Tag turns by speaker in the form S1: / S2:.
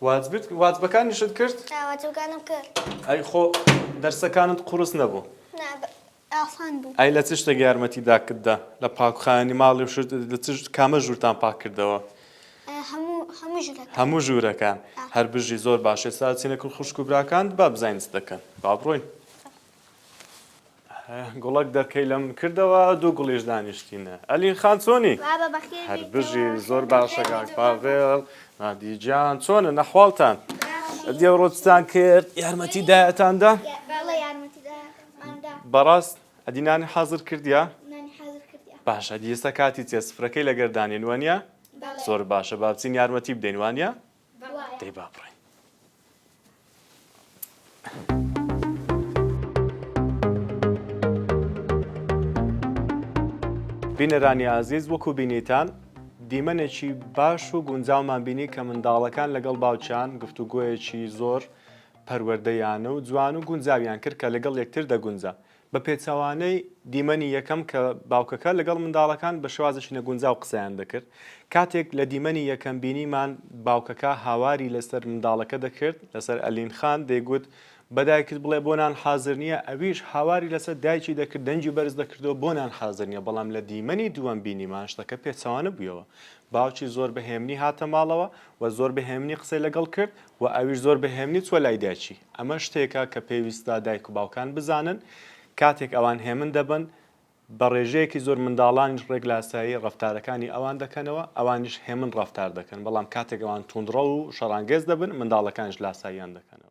S1: واجبت واجبەکانیشت
S2: کرد؟ آه،
S1: واجبەکانم کرد. ئەی خۆ
S2: دەرسەکانت قورس نەبوو؟ نا بە
S1: ئاسان بوو. ئەی لە چ شتێک یارمەتی
S2: داکت دا؟ لە پاکخایەنی ماڵی و شت لە چ کامە ژوورتان پاک کردەوە؟ آه، هەموو
S1: هەموو ژوورەکە. هەموو ژوورەکان.
S2: آه. هەر بژی زۆر باش ئێستا ئەچینە کن خوشک و براکانت با بزانین چ دەکەن با بڕۆین. گوڵەک دەرکەی لەم کردەوە دوو گوڵیش دانیشتینە ئەلین خان چۆنی هەر
S1: بژی زۆر
S2: باشە کاک پاڤێڵ نادی گیان چۆنە نەحواڵتان دیێڕۆچتان کرد یارمەتی دایەتاندا
S1: بەڕاست
S2: ئەدینانی حەزر کردیا
S1: باشە دیێستا کاتی
S2: چێ سفرەکەی لەگەردانێن وانە زۆر باشە
S1: بابچین
S2: یارمەتی بدەین وانە دەی با
S1: بڕۆین.
S2: بینەرانی ئازیز وەکو بینیتان دیمەنێکی باش و گونجاومان بینی کە منداڵەکان لەگەڵ باوچان گفتوگۆیەکی زۆر پەروەردەیانە و جوان و گونجاویان کرد کە لەگەڵ یەکتر دەگونجا بە پێچەوانەی دیمەنی یەکەم کە باوکەکە لەگەڵ منداڵەکان بە شێوازێکی نەگونجاو قسەیان دەکرد، کاتێک لە دیمەنی یەکەم بینیمان باوکەکە هاواری لەسەر منداڵەکە دەکرد، لەسەر ئەلین خان، دەیگوت بە دایکت بڵێ بۆ نان حازر نییە، ئەویش هاواری لەسەر دایکی دەکرد، دەنگی بەرز دەکردەوە بۆ نان حازر نییە، بەڵام لە دیمەنی دووەم بینیمان شتەکە پێچەوانە بوویەوە، باوکی زۆر بە هێمنی هاتە ماڵەوە و زۆر بە هێمنی قسەی لەگەڵ کرد، وە ئەویش زۆر بە هێمنی چووە لای دایکی، ئەمە شتێکە کە پێویستە دایک و باوکان بزانن کاتێک ئەوان هێمن دەبن بە ڕێژەیەکی زۆر منداڵانیش ڕێک لە ئاسایی ڕەفتارەکانی ئەوان دەکەنەوە ئەوانیش هێمن ڕەفتار دەکەن بەڵام کاتێک ئەوان توندڕەو و شەڕانگێز دەبن منداڵەکانیش لاساییان دەکەنەوە.